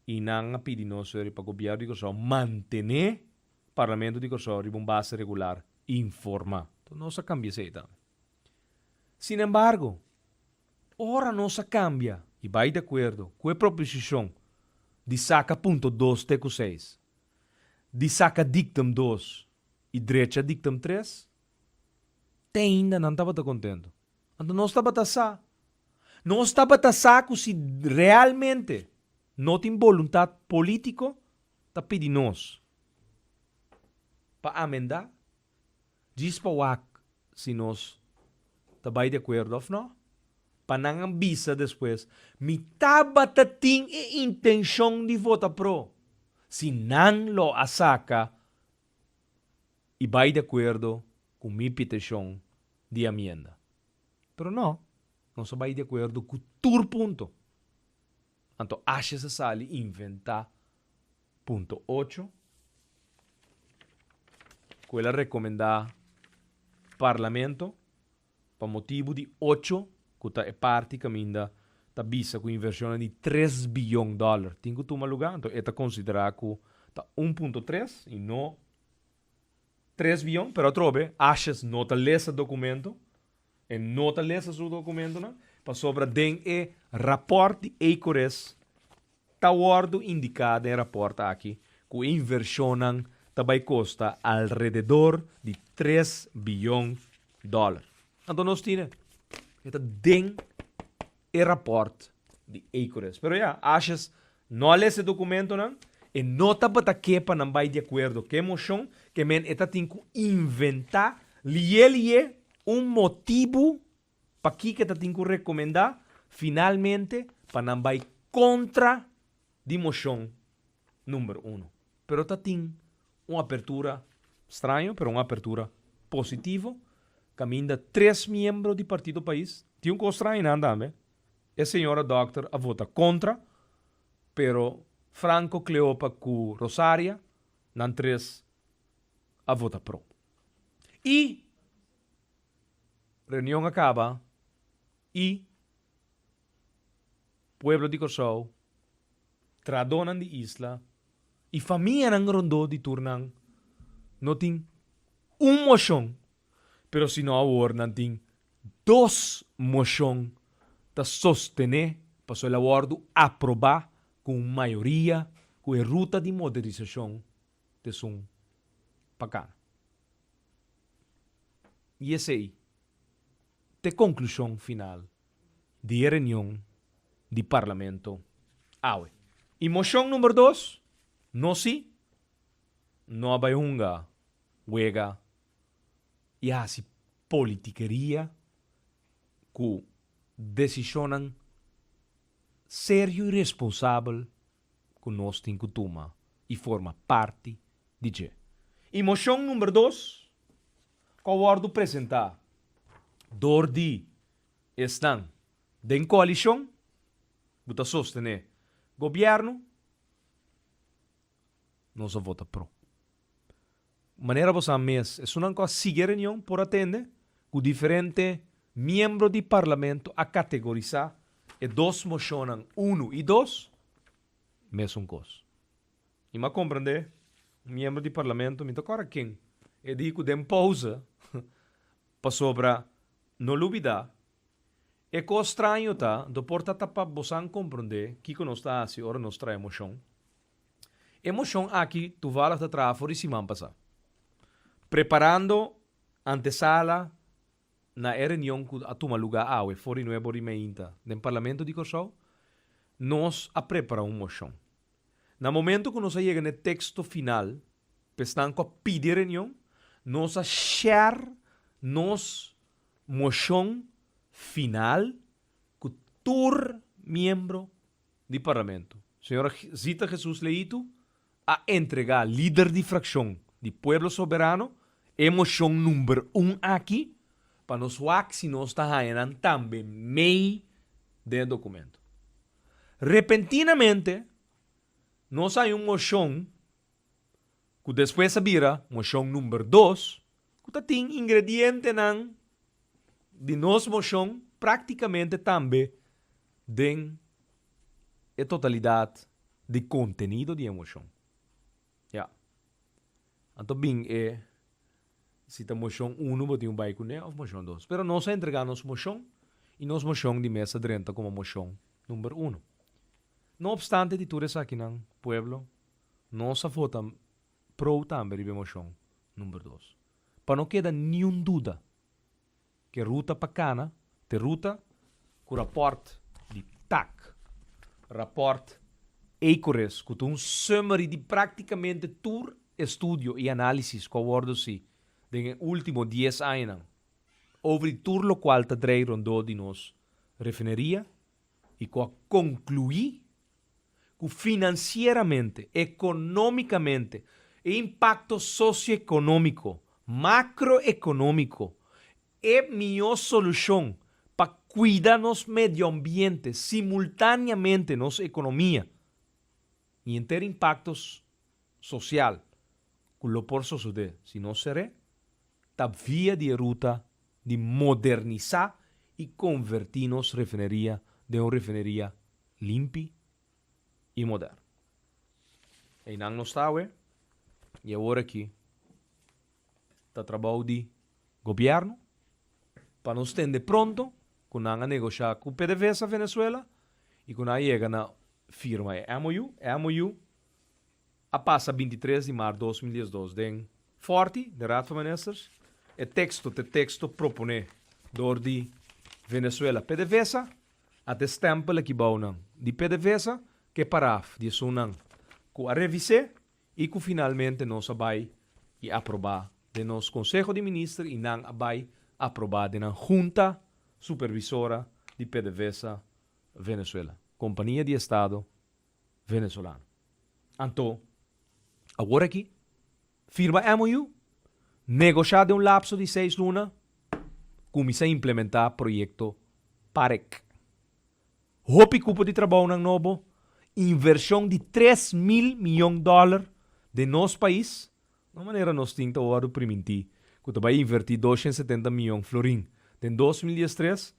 i nan a pidi nos suri pa Gobierno di Kòrsou mantené Parlamento di Kòrsou riba un base regular informá. Nos a kambia esei tambe. Sinembargo. Ora nos a kambia i bai di akuerdo ku e proposishon di saka punto dos te ku seis di saka diktum dos i drecha diktum tres, te ainda nan tabata kontentu. Anto nos tabata sa. Nos tabata sa ku si realmente no tin boluntat polítiko ta pidi nos pa amendá Djis pa wak si nos ta bai di akuerdo òf nò. Pa nan a bisa despues, Mi tabata tin e intenshon di vota pro. Si nan lo a saka i bai di akuerdo ku mi piteshon di amienda. Pero nò, nos a bai di akuerdo ku tur punto. Anto ashes a sali inventá punto ocho ku el a rekomendá Parlamento pa motibu di ocho ku ta e parti kaminda ta bisa ku invershonnan di tres biyon dòler tin ku tuma lugá, anto e ta konsiderá ku ta un punto tres i no tres biyon, pero atrobe ashes no ta lesa dokumento. E no ta lesa su dokumentonan pasobra den e rapòrt di Ecoris ta wòrdu indiká den rapòrt aki ku e invershonnan ta bai kosta alrededor di tres biyon dòler. Anto nos tine e ta den e rapòrt di Ecoris. Pero ya, ashes No a les e dokumentonan. E no tabata ke pa nan bai di akuerdo ku e moshon, ke men e ta tin ku inventá, lié lié, un motibu pakiko e ta tin ku rekomendá, finalmente, pa nan bai kontra di moshon number uno. Pero ta tin un apertura, straño, pero un apertura positivo, kaminda tres miembro di Partido Pais, tin un kos straño nan tambe, E señora dòkter a vota kontra, pero Franco, Cleopa ku Rosaria, nan tres a vota pro. I reunion a kaba i pueblo di Kòrsou, traadónan di isla i famianan rondó di tur nan no tin un moshon, pero sino awor nan tin Dos moshon ta sostené paso el a wòrdu aprobá ku un mayoria ku e ruta di moderisashon ta esun pa kana. I esei ta e konklushon final di e reunion di Parlamento awe. I moshon number dos, no si, no a bai hunga wega i hasi politikeria ku desishonnan serio i responsabel ku nos tin ku tuma i forma parti di dje. I moshon number dos ku a wòrdu presentá dor di esnan den koalishon ku ta sostené gobièrnu, nos a vota pro. Manera bo sa mes, esunnan ku a sigui e reunion por a tende ku diferente miembro di Parlamento a kategorisá e dos moshonnan unu i dos mesun kos. I mi a komprendé un miembro di Parlamento, mi ta kòrda ken, e di ku den pouse, pasobra no lo bida e kos straño ta, do por ta ta pa bosan komprendé kiko nos ta hasi ora nos trae moshon. E moshon aki tuvalg ta traha for di siman pasá, preparando antesala na e reunion ku a tuma lugá awe for di Nuevo Rimainta den Parlamento di Kòrsou, nos a prepara un moshon. Na momento ku nos a yega na e teksto final pa esnan ku a pidi e reunion, nos a shèr nos moshon final ku tur miembro di Parlamento, señora Zita Jesus Leïtu, a entregá lider di frakshon di Pueblo Soberano e moshon number un aki pa nos wak si nos ta haña nan tambe mei den e dokumento. Repentinamente nos a haña un moshon ku despues a bira moshon number dos, ku ta tin ingredientenan di nos moshon práktikamente tambe den e totalidat di kontenido di e moshon. Ya. Anto bin e si ta moshon uno bo tin ku bai kuné òf moshon dos. Pero nos a entregá nos moshon i nos moshon di mesa drenta komo moshon number uno. No opstante di tur esakinan, pueblo, Nos a vota pro tambe riba e moshon number dos. Pa no keda niun duda ku e ruta pa kana ta e ruta ku rapòrt di tac, rapòrt Ecoris ku ta un summary di práktikamente tur e studio i análisis ku a wòrdu hasi den e último dies añanan over di tur lokual ta drei rondó di nos refineria i ku a konkluí ku finansieramente, ekonómikamente i impakto sosioekonómiko, makroekonómiko, e mihó solushon pa kuida nos medioambiente, simultáneamente nos ekonomia i henter impaktos sosial ku lo por sosodé si nos seré ta via di e ruta di modernisá i konvertí nos refineria den un refineria limpi i moderno. Einan nos ta awe i awor aki ta trabou di Gobièrnu pa nos tende pronto ku nan a negosha ku PDVSA Venezuela i ku nan a yega na firma e MOU. E MOU A pasa binti tres di mar dos mil diesdos den Forti, den Raad van Ministers, e teksto t'e teksto proponé dor di Venezuela Pdvsa a t'e stèmpel aki bounan di Pdvsa k'e paraf di esunnan ku a revis'é i ku finalmente nos a bai i aprobá den nos Konseho di Minister i nan a bai aprobá den nan Hunta Supervisora di Pdvsa Venezuela, kompania di Estado. Venezolano. Anto, awor aki, firma MOU, negosha den un lapso di seis luna, kuminsá implementá proyekto Parek. Hopi kupo di trabounan nobo, invershon di tres mil miyon dòler den nos pais, no un manera nos tin ta wòrdu primintí ku ta bai invertí dos shen setenta miyon florin den dos mil dies tres,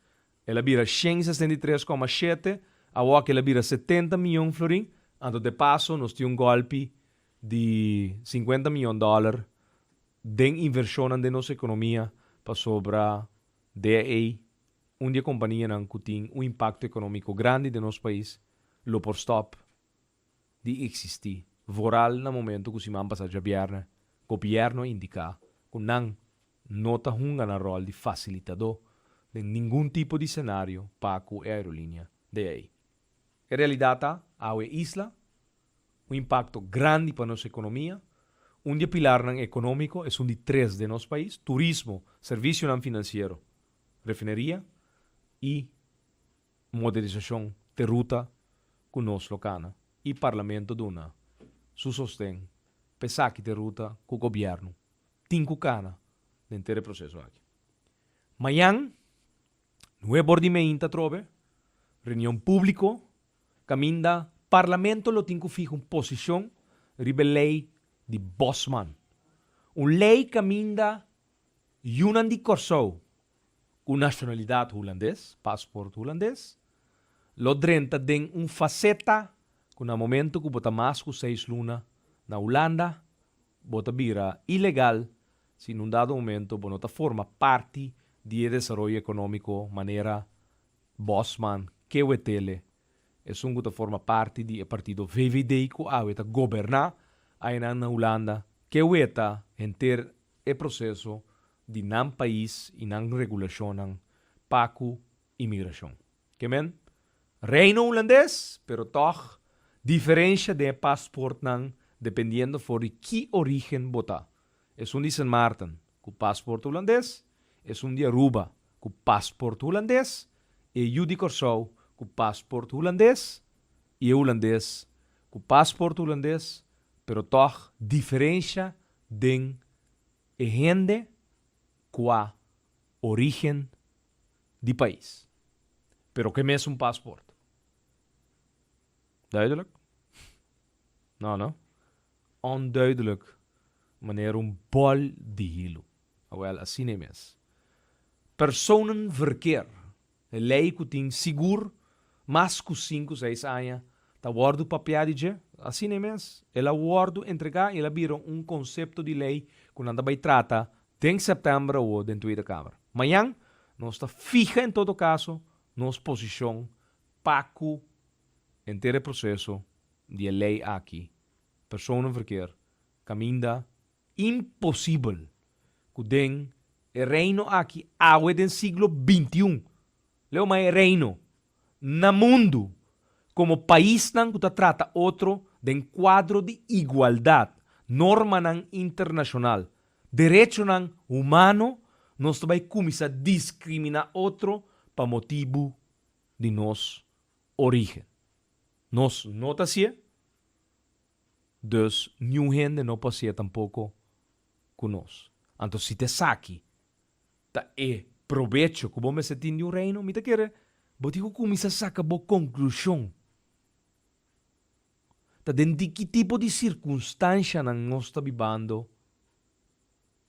El a bira shen i sesenta i tres koma shete, awoka el a bira setenta mion florin, anto de paso nos tin un gòlpi di sinkuenta mion dòler den invershonnan den nos ekonomia pasobra de ei un di e kompanianan ku tin un impakto ekonómiko grandi den nos pais lo por stòp. di existi vooral na momento cu siman pasa djabierne gobierno a indica cu nan no ta hunga nan rol di facilitado den ningun tipo di scenario pa cu e aerolinea de ey. E realidad ta awe e isla un impacto grandi pa nos economia, un di e pilarnan economico esun di tres den nos pais, turismo, servicionan financiero, refineria y modernisashon te ruta ku nos lo kana i parlamento duna su sosten pa esaki te ruta ku gobièrnu tin ku kana den tur e proseso aki. Mañan nue bor di meint atrobe reunion públiko kaminda parlamento lo tin ku fihá un posishon riba e lei di Bosman, un lei kaminda Yunan di Kòrsou ku nashonalidat hulandes, pasport hulandes, lo drenta den un faseta ku na momentu ku bo ta mas ku seis luna na Hulanda, bo ta bira ilegal si nun dado momento bo no ta forma parti di e desaroyo ekonómiko manera Bosman, Kewetele, esun ku ta forma parti di e partido VVD ku awe ta goberná ayenan na Hulanda, Keweta henter E proseso di nan pais y nan regulacionnan pa cu inmigracion. Ke men? Reino Hulandes, pero tog diferencia den e paspoortnan dependiendo for di ki origen bo ta. Esun di Sint Maarten cu paspoort Hulandes, esun di Aruba cu paspoort Hulandes, e yu di Corsou cu paspoort Hulandes y e Hulandes cu paspoort Hulandes, pero tog diferencia den e hende kua origen di pais pero ke mesun pasport. Duidelijk? No no. Onduidelijk manera un bòl di hilu. Awel asina e mes. Personen verkeer E lei ku tin sigur mas ku sinku seis aña ta wòrdu papiá di dje. Asina mes, el a wòrdu entregá i el a bira un konsepto di lei ku nan ta bai trata den sèptèmber awor den Tweede Kamer. Mañan nos ta fiha en todo kaso nos posishon pa ku henter e proseso di e lei aki persoonlijkheid kaminda. Imposibel ku den e Reino aki awe den siglo bintiun, leu mas e Reino, na mundu, komo paisnan ku ta trata otro den kuadro di igualdat, normanan internashonal, derechonan humano, nos ta bai kuminsá diskriminá otro pa motibu di nos orígen. Nos no ta hasié. Dus niun hende no pasia tampoko ku nos. Anto si ta esaki ta e probecho ku bo mester tin di un reino, mi ta kere bo tin ku kuminsá saka bo konklushon. Ta den di ki tipo di sirkunstanshanan nos ta bibando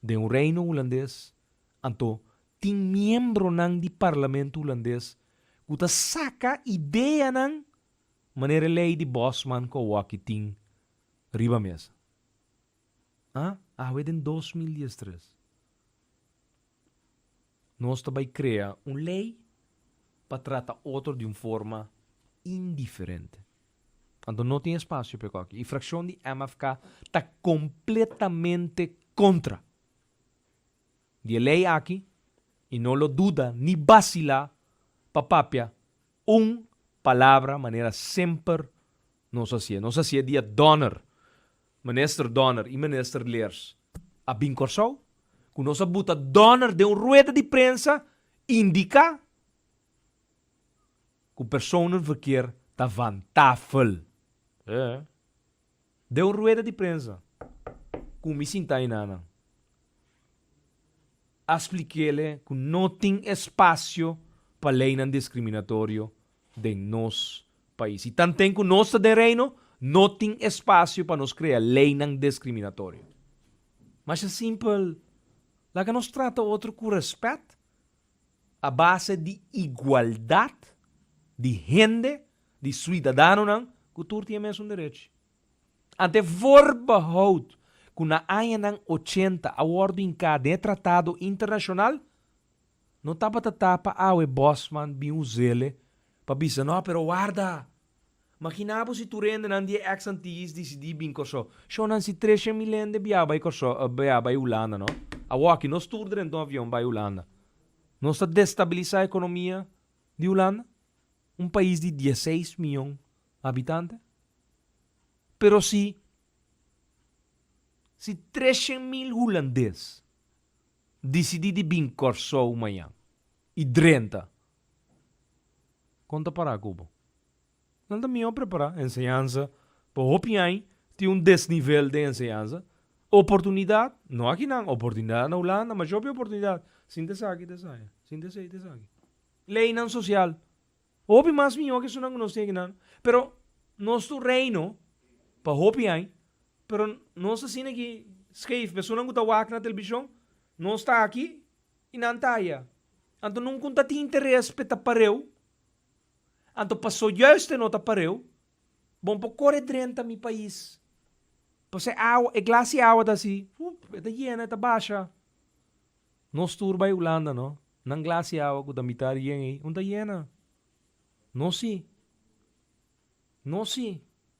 den un reino hulandes? Anto tin miembronan di parlamento hulandes ku ta saka ideanan Manera e lei di Bosman ku Awoki tin riba mesa. Ah, awe den dos mil dies tres nos ta bai krea un lei pa trata otro di un forma indiferente. Anto no tin espasio pa e koki. E frakshon di MFK ta kompletamente kontra di e lei aki i no lo duda ni basilá pa papia Un palabra manera semper nos a hacié. Nos a hacié dia Donner, Minister Donner y Minister Leers a bin Corsou, cu nos a buta Donner den un rueda di prensa indica cu personenverkeer ta van tafel. He. Den un rueda di prensa cu mi sinta ayina nan a splik'ele cu no tin espacio pa leynan discriminatorio den nos pais. Y tanten cu nos ta den Reino no tin espacio pa nos crea leynan discriminatorio. Masha simpel, laga nos trata otro cu respet a base di igualdad di hende di suidadanonan ku tur tin e mesun derech. Ante Voorbehout, ku na añanan ochenta a wòrdu hinká den e tratado internashonal, no tabata ta pa awe Bosman bin us'ele pa bisa nò pero warda! Makina bo si tur hendenan di e eks Antilles disidí bin Kòrsou. Shonnan si treshen mil hende biaha bai Kòrsou, biaha bai Hulanda nò. Awòki nos tur drentu un avion bai Hulanda. Nos ta destabilisá ekonomia di Hulanda, un pais di dieseis mion habitante, pero si si treshen mil hulandes disidí di bin Kòrsou mañan i drenta, kon ta pará ku bo? Nan ta mihó prepará enseñansa pa hopi ai tin un desnivel den enseñansa. Oportunidat, no akinan, oportunidat na Hulanda, masha hopi oportunidat. Sinta esaki ta esaya, sinta esei ta esaki. Leinan sosial, hopi mas mihó ke esunnan ku nos tin akinan. Pero nos ta un reino pa hopi ai, pero nos ta asina aki skeef. Esunnan ku ta wak na telebishon, nos ta aki i nan ta aya. Anto nunku N ta tin interes pa e tapareu Anto pa sojuist e nota pareu, bon por kore drenta mi pais. Paso e awa, e glasi awa ta si, hup, e ta yena, e ta basha. No stur bai Hulanda no, nan glasi awa ku ta mitar yen ei, un ta yena. No si. No si.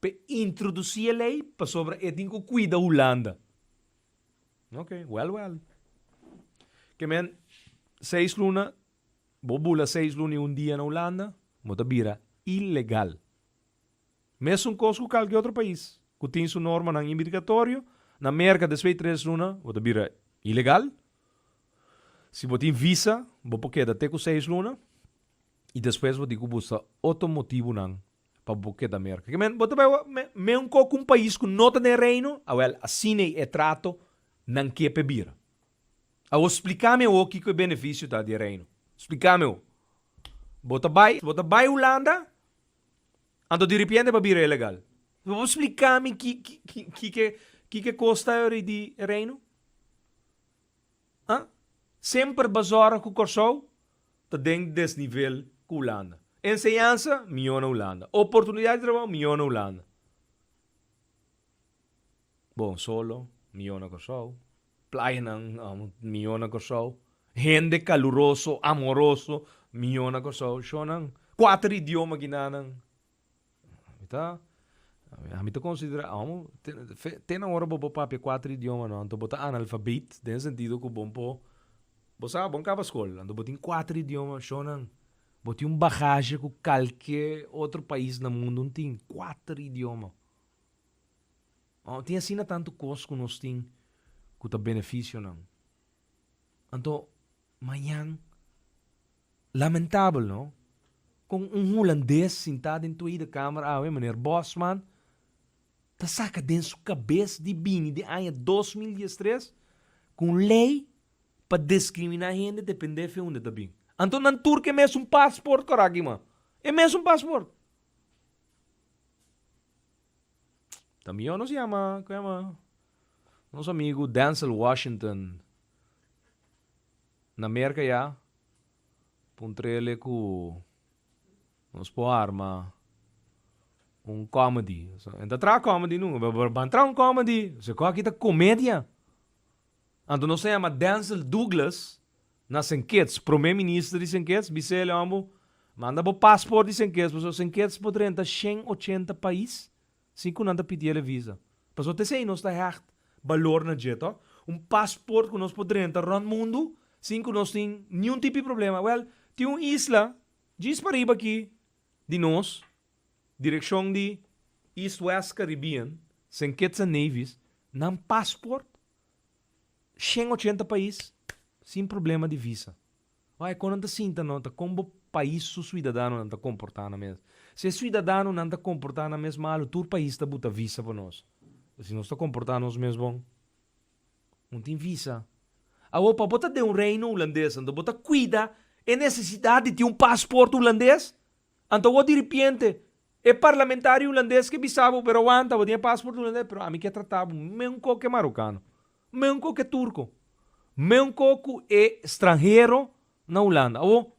p'e introducí e lei pasobra e tin ku kuida Hulanda. Oke, wèl wèl. Ke men seis luna, bo bula seis luna i un dia na Hulanda, bo ta bira ilegal. Mesun kos ku kalke otro pais ku tin su normanan imirgatorio, na Merka despues di tres luna bo ta bira ilegal. Si bo tin visa, bo por keda te ku seis luna. Y despues bo di cu bo sa otro motibunan pa bo keda Merca. Ke men, bo ta bay menco cu un pais cu no ta den Reino? Awel, asina e trato nan ke pe bira. Awor splica mi awor kico e beneficio ta di e Reino. Splica mi awor. Bo ta bay, bo ta bay Hulanda, anto di ripiente pa bira ilegal. Bo por splica mi ki, ki, ki, kiko e cos ta di e Reino? A semper bazorga ku Kòrsou ta den desnivel ku Hulanda. Enseñansa, mihó na Hulanda. Oportunidat di trabou, mihó na Hulanda. Bon solo, mihó na Kòrsou. Playanan, mihó na Kòrsou. Hende kaluroso, amoroso, mihó na Kòrsou. Shònan, kuater idioma kinanan. Mi ta, ami ta considera amo, te na ora bo por papia cuatro idiomanan, anto bo ta analfabet, den sentido cu bon por, bo sa, bon caba scol, anto bo tin cuatro idiomanan shonan, bo tin un bagashi cu calke otro pais na mundo no tin, cuatro idiomanan. Amo, tin asina tanto cos cu nos tin cu ta beneficio nan. Anto, mañan. Lamentabel no, con un hulandes sinta den toei de kamer awe, meneer Bosman, ta saca den su cabes di bini den aña dos mil diestres cu un ley pa discrimina hende depende fe hunde ta bin. Anto nan tur ke mesun passport cora aki man. E mesun passport. Ta miyor nos yama, cu yama, nos amigo Denzel Washington Na Merca ya pa un trele cu nos por arma un comedy. Nan ta traha comedy nu. Ban traha un comedy. Su cu aki ta comedia. Anto nos ta yama Denzel Douglas na Saint Kitts, prome minister di Saint Kitts, bisel e homber, manda bo passport di Saint Kitts, pasobra Saint Kitts por drenta shen ochenta pais. sin cu nan ta pidiel e visa. Pasobra ta esey nos ta hecht balor na dje, to. Un paspoort cu nos por drenta rond mundu sin cu nos tin niun tipi problema. Wel, tin un isla djis pariba aki di nos, direccion di East West Caribbean, Saint Kitts and Nevis, nan paspoort shen ochenta pais sin problema di visa. Oe kon nan ta sinta no ta kon bo pais su suidadanonan ta komportá nan mes. Si e suidadano nan ta komportá nan mes malu tur pais ta buta visa pa nos. Pero si nos ta komportá nos mes bon no tin visa. Awo pa bo ta den un reino hulandes anto bo ta kuida e nesesidat di tin un pasport hulandes? Anto awor diripiente e parlamentario hulandes ke bisa bo pero awanta bo tin e pasport hulandes pero ami ke tratá bo men un kok ke marokano. Meunco cu e turco. Meunco cu e stranhero na Hulanda. Awo,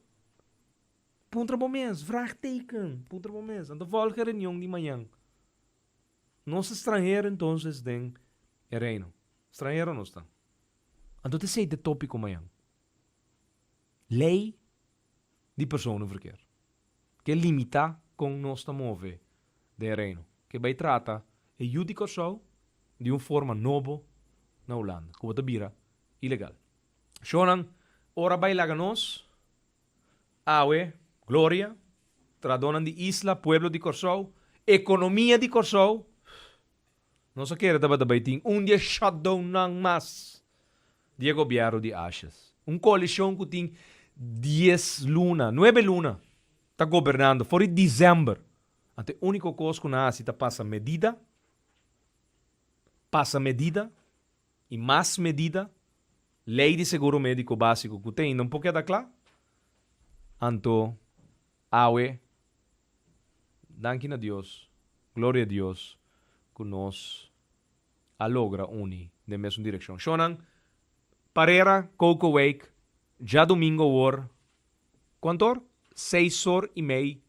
puntra bo mes, vraagteken, puntra bo mes, anto volgen reunion di mañan. Nos ta stranhero entonces den e Reino? Stranhero nos ta. Anto ta esey te topico mañan. Ley di persona verkeer. ke limita kon nos ta move den e Reino, ke bai trata e yu di Kòrsou di un forma nobo na Hulanda, ku bo ta bira ilegal. Shonnan, ora bai laga nos, awe, gloria, tradonan di isla, pueblo di Kòrsou, ekonomia di Kòrsou, Nos a kere tabata bai tin un di e shutdownnan mas di e gobièrnu di Ashes. Un koalishon ku tin dies luna, nuebe luna, ta gobernando for di December. Anto e úniko kos ku nan hasi ta pasa medida, pasa medida i mas medida, lei di seguro médiko básiko ku ta ainda un pokié ta kla. Anto. Awe, danki na Dios, gloria Dios, ku nos a logra uni den mesun direkshon. Shonnan, Parera, Cocowake, djadumingo awor, kuantu or? Seis or i mei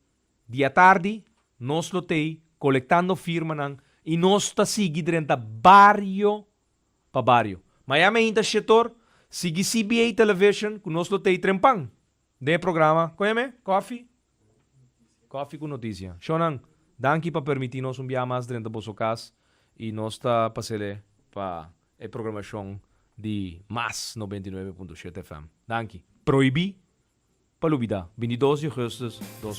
di atardi, nos lo t'ei kolektando firmanan i nos ta sigui drenta bario pa bario. Miami ainda shet or, sigui CBA Television ku nos lo t'ei trempan. Den e programa Koe me? Kofi? Kofi ku Notisia. Shownan, danki pa permití nos un biaha mas drenta boso kas i nos ta pasel'é pa e programashon di Mas noventa i nuebe punto shete FM. Danki. Prohibí pa lubidá, bini dos di Augustus dos.